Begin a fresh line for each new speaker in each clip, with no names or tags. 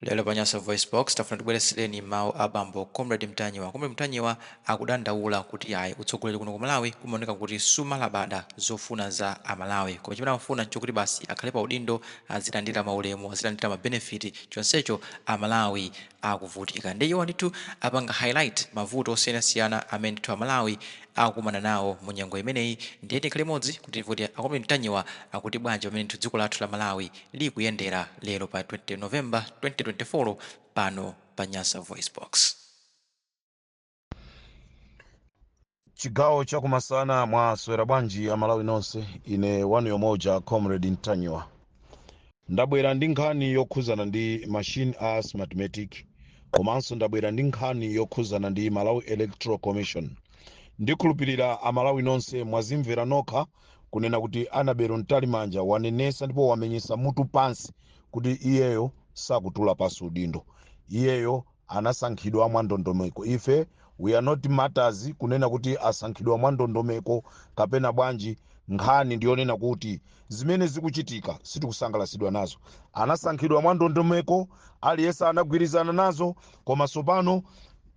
Lero pa Nyasa VoiceBox, tafuna tibweretsereni mawu a bambo Comrade Mtanyiwa. Comrade Mtanyiwa akudandaula kuti yayi, utsogoleri kuno ku Malawi umaoneka kuti sumalabada zofuna za a Malawi. Koma chimene amafuna nchokuti basi akhale pa udindo, azilandira ma ulemu, azilandira ma benefit, chonsecho a Malawi akuvutika. Ndiye iwo ndithu apanga highlight mavuto osiyanasiyana amene ndithu a Malawi akukumana nawo mu nyengo imeneyi. Ndiye tikhale limodzi kuti timve kuti a Comrade Mtanyiwa akuti bwanji pamene ndithu dziko lathu la Malawi likuyendera lero pa 20 November 2024 pano pa Nyasa
VoiceBox. chigawo chakumasana mwaswera bwanji amalawi nonse ine wanu yemweuja comrade mtanyiwa ndabwera ndi nkhani yokhuzana ndi machine a smartmatic komanso ndabwera ndi nkhani yokhuzana ndi malawi electoral commission ndikhulupirira amalawi nonse mwazimvera nokha kunena kuti annabel mtalimanja wanenesa ndipo wamenyesa mutu pansi kuti iyeyo sakutula pansi udindo iyeyo anasankhidwa mwa ndondomeko ife we are not matters kunena kuti asankhidwa mwa ndondomeko kapena bwanji nkhani ndiyonena kuti zimene zikuchitika sitikusangalasidwa nazo anasankhidwa mwa ndondomeko aliyense anagwirizana nazo koma tsopano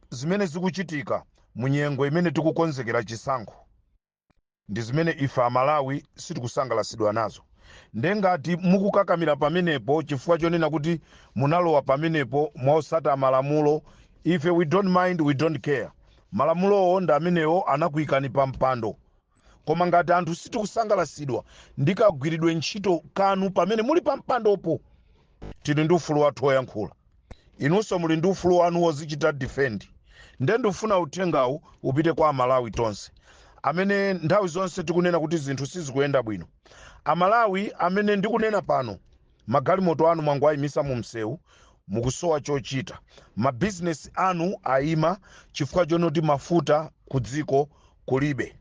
zimene zikuchitika munyengo imene tikukonzekera chisankho ndizimene ife amalawi sitikusangalasidwa nazo nde ngati mukukakamira pamenepo chifukwa chonena kuti munalowa pamenepo mosata malamulo ife we don't mind we don't care malamulowo ndi amenewo anakuikani pa mpando koma ngati anthu sitikusangalasidwa ndi kagwiridwe ntchito kanu pamene muli pa mpandopo tili ndi ufulu wathu woyankhula inunso muli ndi ufulu wanu wozichita defend nde ndifuna uthengawu upite kwa amalawi tonse amene nthawi zonse tikunena kuti zinthu sizikuyenda bwino amalawi amene ndikunena pano magalimoto anu mwangowayimisa mu msewu mukusowa chochita mabizinesi anu ayima chifukwa chonoti mafuta ku dziko kulibe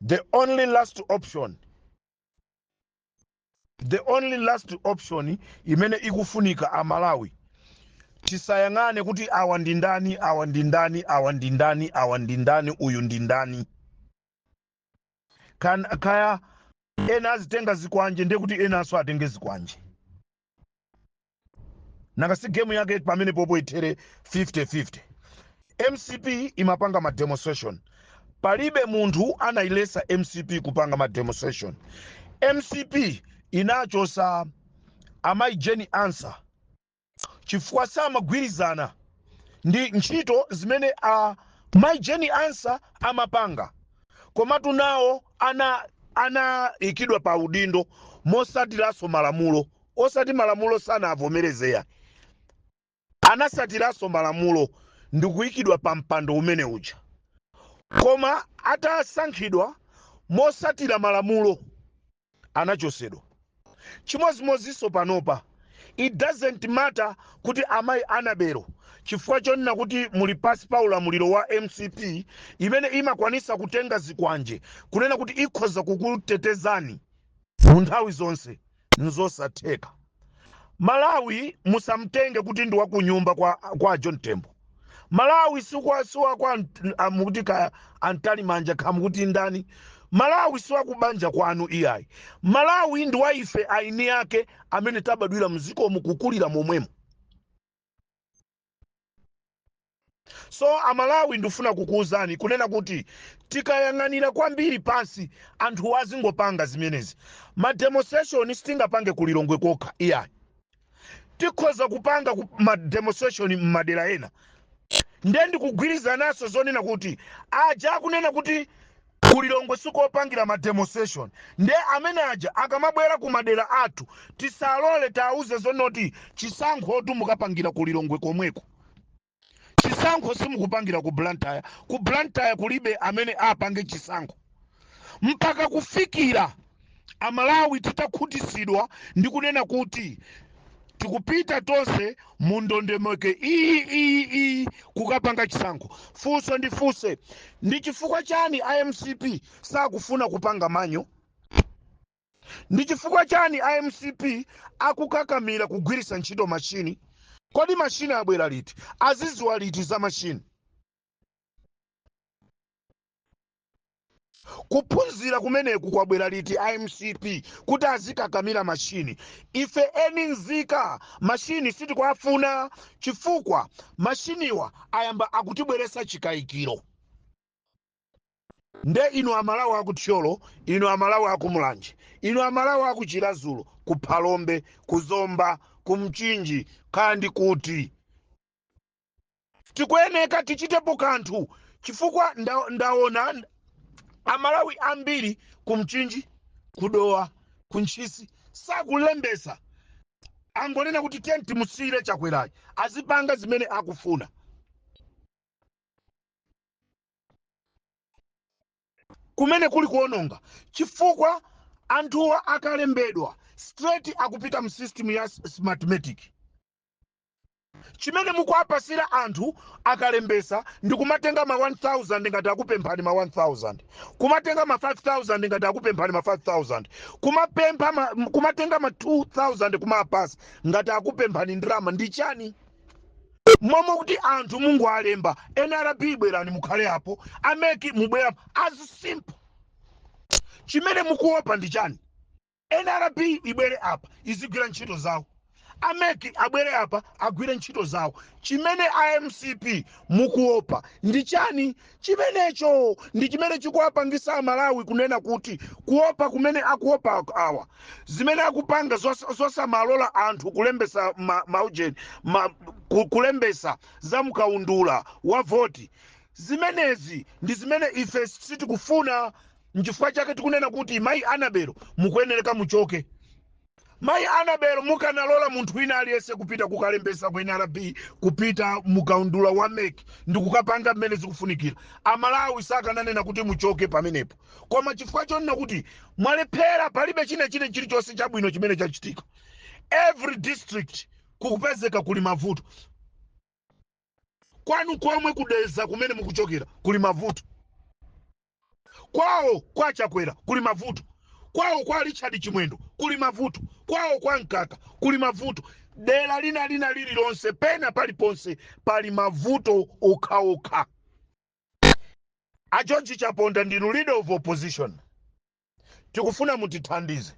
the only last option the only last option imene ikufunika amalawi tisayang'ane kuti awa ndi ndani awa ndi ndani awa ndi ndani awa ndi ndani uyu ndi ndani Kan- kaya ena azitenga zikwanje ndiye kuti enanso atenge zikwanje nanga si game yake pamenepopo ithere 50-50 mcp imapanga ma demonstration palibe munthu anayilesa mcp kupanga ma demonstration mcp inachosa amayi jane ansah chifukwa samagwirizana ndi ntchito zimene amayi jane ansah amapanga komatu nawo ana anaikidwa pa udindo mosatsatiranso malamulo osati malamulo sanavomereze ayi anatsatiranso malamulo ndi kuikidwa pa mpando umene uja koma atasankhidwa motsatira malamulo anachotsedwa Chimodzimodzinso panopa. It doesn't matter kuti amayi Anabelo chifukwa chonena kuti muli pansi pa ulamuliro wa mcp imene imakwanisa kutenga zikwanje kunena kuti ikhoza kukutetezani mu nthawi zonse nzosatheka. Malawi musamtenge kuti ndi wakunyumba kwa a John Tembo. malawi sikwa siwakwa nt- ah, mukuti kaya a Mtalimanja kaya mukuti ndani malawi siwakubanja kwanu iyayi malawi ndi wa ife eni ake amene tabadwira m'dziko momo kukulira momwemo so amalawi ndifuna kukuwuzani kunena kuti tikayang'anira kwambiri pansi anthu azingopanga zimenezi mademonstration sitingapange kulilongwe kokha iyayi tikhoza kupanga ku- ma demonstration m'madera ena ndiye ndikugwirizana nazo zonena kuti aja akunena kuti kulilongwe sikopangira ma demonstration ndiye amene aja akamabwera ku madera athu tisalole tiwauze zonoti chisankhotu mukapangira kulilongwe komweko chisankho simukupangira ku blantyre ku blantyre kulibe amene apange chisankho mpaka kufikira amalawi titakhutitsidwa ndi kunena kuti tikupita tonse mu ndondomeko iyi iyi iyi kukapanga chisankho funso ndifunse ndi chifukwa chani a mcp sakufuna kupanga manual ndi chifukwa chani a mcp akukakamira kugwiritsa ntchito mashini kodi mashini abwera liti azidziwa liti za mashini kuphunzira kumeneku kwabwera liti a mcp kuti azikakamira mashini ife eni nzika mashini sitikuafuna chifukwa mashiniwa ayamba akutibweretsa chikayikiro nde inu amalawi aku thyolo inu amalawi aku mulanje inu amalawi aku chiradzulu ku phalombe ku zomba ku mchinji kaya ndi kuti tikuyeneka tichitepo kanthu chifukwa ndaona amalawi ambiri ku mchinji ku dowa ku ntchisi sakulembetsa angonena kuti tiyeni timusiyire chakwerayi azipanga zimene akufuna kumene kuli kuononga chifukwa anthuwa akalembedwa straight akupita mu system ya s- smartmatic chimene mukuwapatsira anthu akalembetsa ndi kumatenga ma 1000 ngati akupemphani ma 1000 kumatenga ma 5000 ngati akupemphani ma 5000 kumapempha ma, m- kumatenga ma 2000 kumawapatsa ngati akupemphani ndalama ndi chani momwe kuti anthu mungowalemba nrb bwerani mukhale apo a mec mubwere as simple chimene mukuopa ndi chani nrb ibwere apa izigwira ntchito zawo a mec abwere apa agwire ntchito zawo chimene a mcp mukuopa ndi chani Chimenecho ndi chimene chikuwapangisa amalawi kunena kuti kuopa kumene akuopa awa zimene akupanga zos, zosamalola anthu kulembetsa ma, maujeni ma, ku, kulembetsa za mkaundula wa voti zimenezi ndi zimene ife sitikufuna nchifukwa chake tikunena kuti mayi annabel mukuyenereka muchoke Mayi Annabel mukanalola munthu wina aliyense kupita kukalembetsa ku nrb kupita mkaundula wa mec ndikukapanga mmene zikufunikira amalawi sakananena kuti muchoke pamenepo koma chifukwa chonena kuti mwalephera palibe china chine chilichonse chabwino chimene chachitika every district kukupezeka kuli mavuto kwanu komwe ku dedza kumene mukuchokera kuli mavuto kwawo kwa chakwera kuli mavuto kwawo kwa richard chimwendo kuli mavuto kwawo kwa mkaka kuli mavuto dera lina lina lililonse pena paliponse pali mavuto okhaokha a george chaponda ndinu leader of opposition tikufuna mutithandize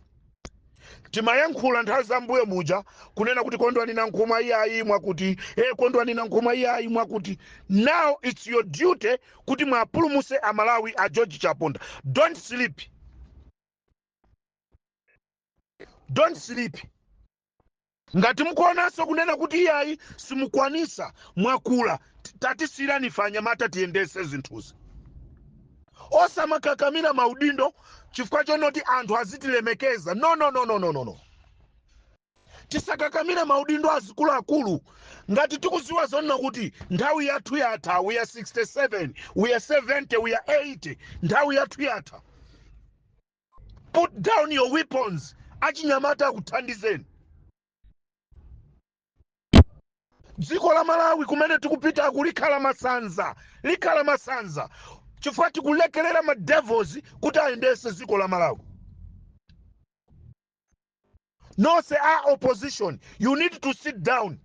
timayankhula nthawi za mbuyo muja kunena kuti kondwani nankhumwa iyayi mwakuti e kondwani nankhumwa iyayi mwakuti now its your duty kuti muwapulumutse amalawi a george chaponda don't sleep don't sleep ngati mukuonanso kunena kuti iyayi simukwanitsa mwakula tatisiyirani ife anyamata tiyendetse zinthuzi osamakakamira maudindo chifukwa chonoti anthu azitilemekeza no no no no no no no tisakakamira maudindo azikuluakulu ngati tikudziwa zonena kuti nthawi yathu yatha we are 67 we are 70 we are 80 nthawi yathu yatha put down your weapons achinyamata akuthandizeni dziko la malawi kumene tikupitaku likhala masanza likhala masanza chifukwa tikulekerera ma devils kuti ayendetse dziko la malawi nonse a opposition you need to sit down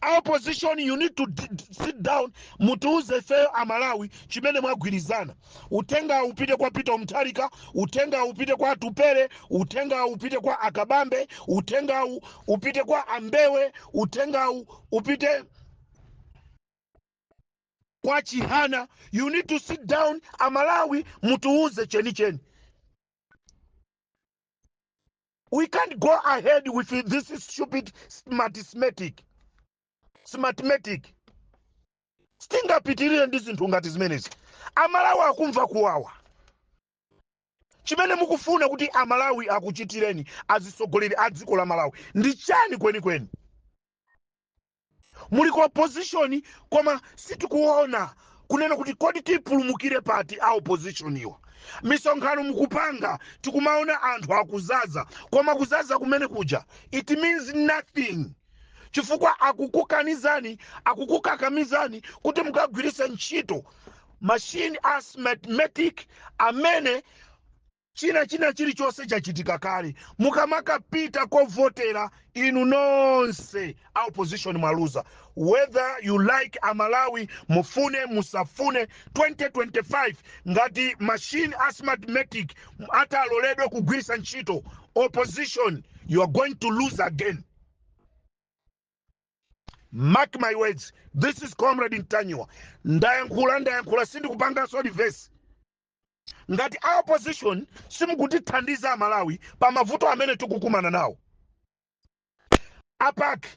a opposition you need to d- d- sit down mutiuze ifeyo amalawi chimene mwagwirizana uthenga upite kwa peter mutharika uthenga upite kwa atupele uthenga upite kwa a kabambe uthenga u- upite kwa a mbewe uthenga u- upite kwa chihana you need to sit down amalawi mutiuze chenicheni we can't go ahead with this stupid smartmatic sitingapitirire ndi zinthu ngati zimenezi amalawi akumva kuwawa chimene mukufuna kuti amalawi akuchitireni azitsogoleri a dziko la malawi ndi chani kwenikweni muli ku opposition koma sitikuona kunena kuti kodi tipulumukire pati a opposition iwa misonkhano mukupanga tikumaona anthu akuzaza koma kuzaza kumene kuja it means nothing chifukwa akukukanizani akukukakamizani kuti mukagwiritse ntchito machine a smartmatic amene china china chilichonse chachitika kale mukamakapita kovotera inu nonse a opposition mwaluza whether you like amalawi mufune musafune 2025 ngati machine a smartmatic ataloledwe kugwirisa ntchito opposition you are going to lose again mark my words this is comrade ntanyiwa ndayankhula ndayankhula sindikupanganso reverse ngati a opposition simukutithandiza amalawi pa mavuto amene tikukumana nawo apake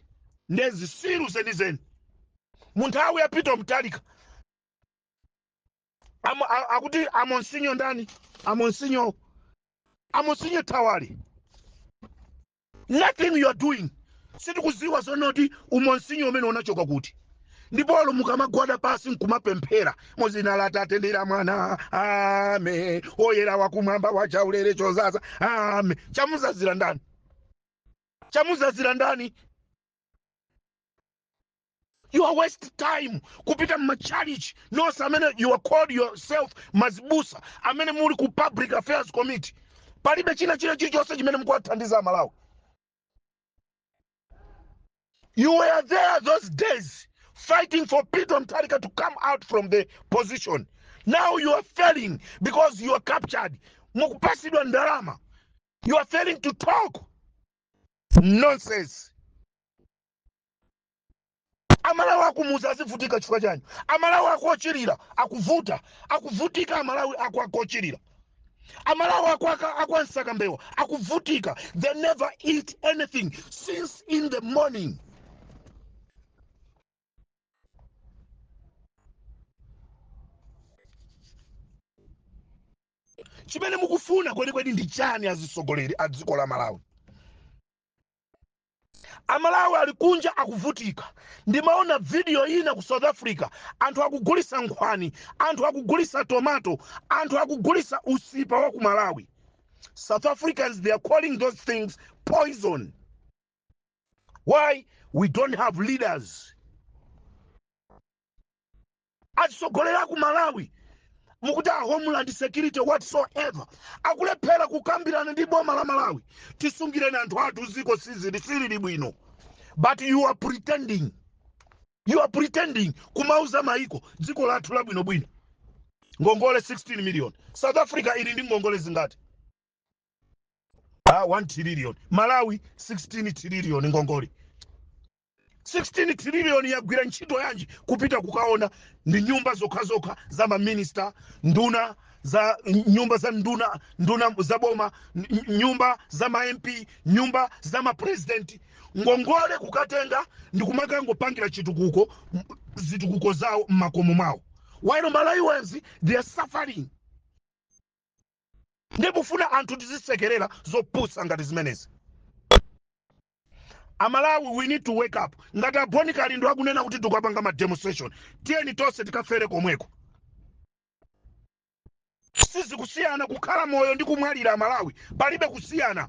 nde zisiru zenizeni mu nthawi ya peter mutharika Amo- a- akuti amonsinyo ndani amonsinyo amonsinyo thawale nothing you are doing sitikuziwa zonoti umonsinyo umene unachoka kuti ndipo olo mukamagwada pasi nkumapemphera mu zina la tate ndi la mwana amayi oyera wakumwamba wachaulere chozaza ame chamuzazira ndani chamuzazira ndani you are waste time kupita mmachalichi nonse amene you are called yourself mazibusa amene muli ku public affairs committee palibe china china chilichonse chimene mukuwathandiza amalawi you were there those days fighting for peter mutharika to come out from the position now you are failing because you are captured mukupasidwa ndalama you are failing to talk nonsense amalawi akumuza azivutika chifukwa chani amalawi akuochirira akuvuta akuvutika amalawi aku akuochirira amalawi aku aka- akwansaka mbewa akuvutika they never eat anything since in the morning chimene mukufuna kwenikweni ndi chani azitsogoleri a dziko la malawi amalawi ali kunja akuvutika ndimaona vidiyo ina ku south africa anthu akugulisa nkhwani anthu akugulisa tomato anthu akugulisa usipa wa ku malawi south africans they are calling those things poison why we don't have leaders Atsogoleri aku Malawi mukuti a homeland security whatsoever akulephera kukambirana ndi boma la Malawi tisungireni anthu athu ziko sizili silili bwino but you are pretending you are pretending kumauza maiko dziko lathu labwino bwino ngongole 16 million south africa ili ndi ngongole zingati ah 1 trillion malawi 16 trillion ngongole 16 trillion yagwira ntchito yanji kupita kukaona ndi nyumba zokhazokha za maminista nduna za nyumba za nduna nduna za boma n- nyumba za ma mp nyumba za mapresidenti ngongole kukatenga ndi kumakangopangira chitukuko m- zitukuko zawo mmakomo mwawo while malawians they are suffering ndikufuna anthu tizisekerera zopusa ngati zimenezi amalawi we need to wake up ngati a Bon Kalindo akunena kuti tikupanga ma demonstration tiyeni tonse tikafere komweko sizikusiyana kukhala moyo ndi kumwalira amalawi palibe kusiyana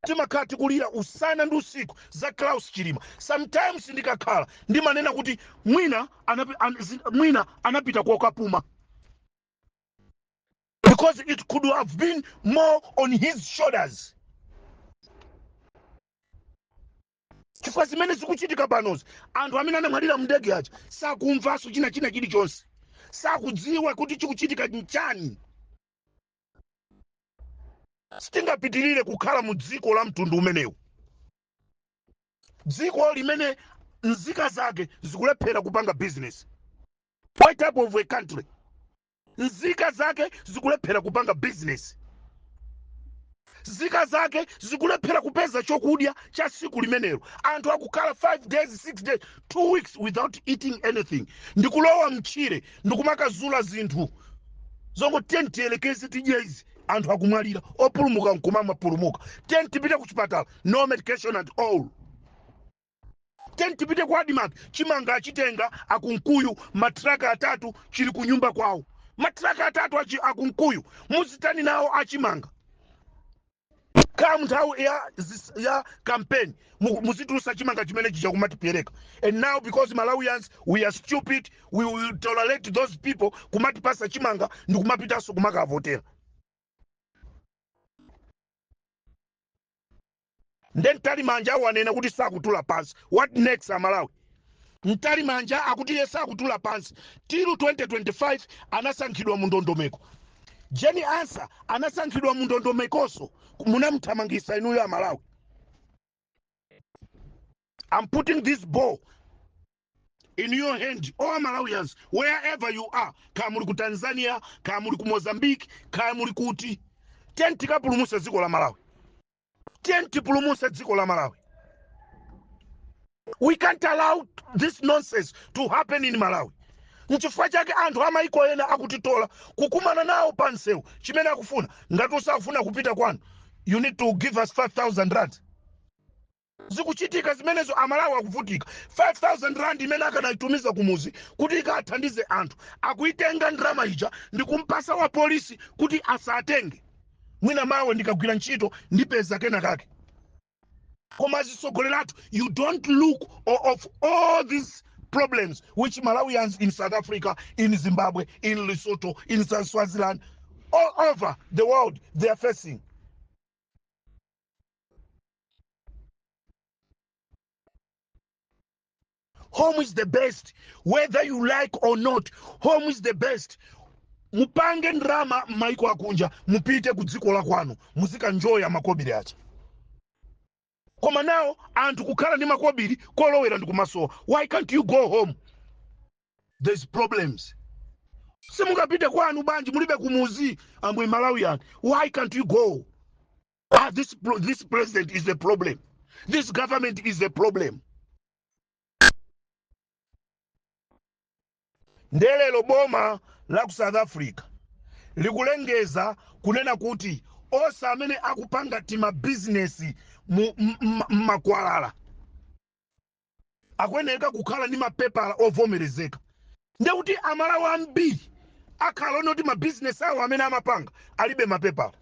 timakhala tikulira usana ndi usiku za Klaus Chilima sometimes ndikakhala ndimanena kuti mwina anapi, an, zi- mwina anapita kokapuma because it could have been more on his shoulders chifukwa zimene zikuchitika panozi anthu amene anamwalira mndege aja sakumvanso china china chilichonse sakudziwa kuti chikuchitika nchani sitingapitirire kukhala mu dziko la mtundu umenewu dziko limene nzika zake zikulephera kupanga business what type of a country nzika zake zikulephera kupanga bizinesi nzika zake zikulephera kupeza chokudya cha siku limenelo anthu akukhala 5 days 6 days 2 weeks without eating anything ndikulowa mtchire ndikumakazula zinthu zongoti tiyeni tiyelekeze tidye izi anthu akumwalira opulumuka nkumamapulumuka tiyeni tipite ku chipatala no medication at all Tiyeni tipite ku Admarc, chimanga achitenga a Kunkuyu, matraka atatu chili ku nyumba kwawo. Matraka atatu achi a Kunkuyu, muzitani nawo achimanga? Come nthawi ya, zis- ya campaign, mu- muzitulusa chimanga chimene chija kumatipeleka. And now because Malawians, we are stupid, we will tolerate those people kumatipasa chimanga ndi kumapitanso kumakavotera. nde mtalimanja wanena kuti sakutula pansi what next amalawi mtalimanja akuti iye sakutula pansi till 2025 anasankhidwa mu ndondomeko jane ansah anasankhidwa mu ndondomekonso munamuthamangisa inuyo amalawi I'm putting this ball in your hand, all Malawians, wherever you are. Kaya muli ku Tanzania, kaya muli ku Mozambique, kaya muli kuti. Tiyeni tikapulumutse dziko la Malawi. Tiyeni tipulumutse dziko la Malawi. We can't allow this nonsense to happen in Malawi. Nchifukwa chake anthu amaiko ena akutitola kukumana nawo pa msewu chimene akufuna. Ngati usafuna kupita kwanu, you need to give us 5,000 rand. zikuchitika zimenezo amalawi akuvutika 5000 rand imene akanaitumiza kumuzi kuti ikathandize anthu akuitenga ndalama ija ndikumpasa wa polisi kuti asatenge mwina mawa ndikagwira ntchito ndipeza kena kake koma azitsogoleri athu you don't look o- of all these problems which malawians in south africa in zimbabwe in lesotho in Swa- swaziland all over the world they are facing home is the best whether you like or not home is the best mupange ndrama m'maiko akunja mupite ku dziko la kwanu muzikaenjoya makobiri aja koma now anthu kukhala ndi makobiri kolowera ndi kumasowa why can't you go home there's problems simungapite kwanu bwanji mulibe kumuzi I'm a malawian why can't you go ah, this, pro- this president is the problem this government is the problem nde lelo boma la ku south africa likulengeza kunena kuti onse amene akupanga timabizinesi mu m- m- m'makwalala akuyenereka kukhala ndi mapepala ovomerezeka ndiye kuti amalawi ambiri akhala oti mabizinesi awo amene amapanga alibe mapepala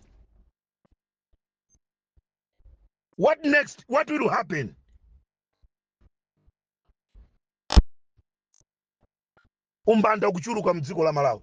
what next what will happen umbanda kuchuluka mdziko la malawi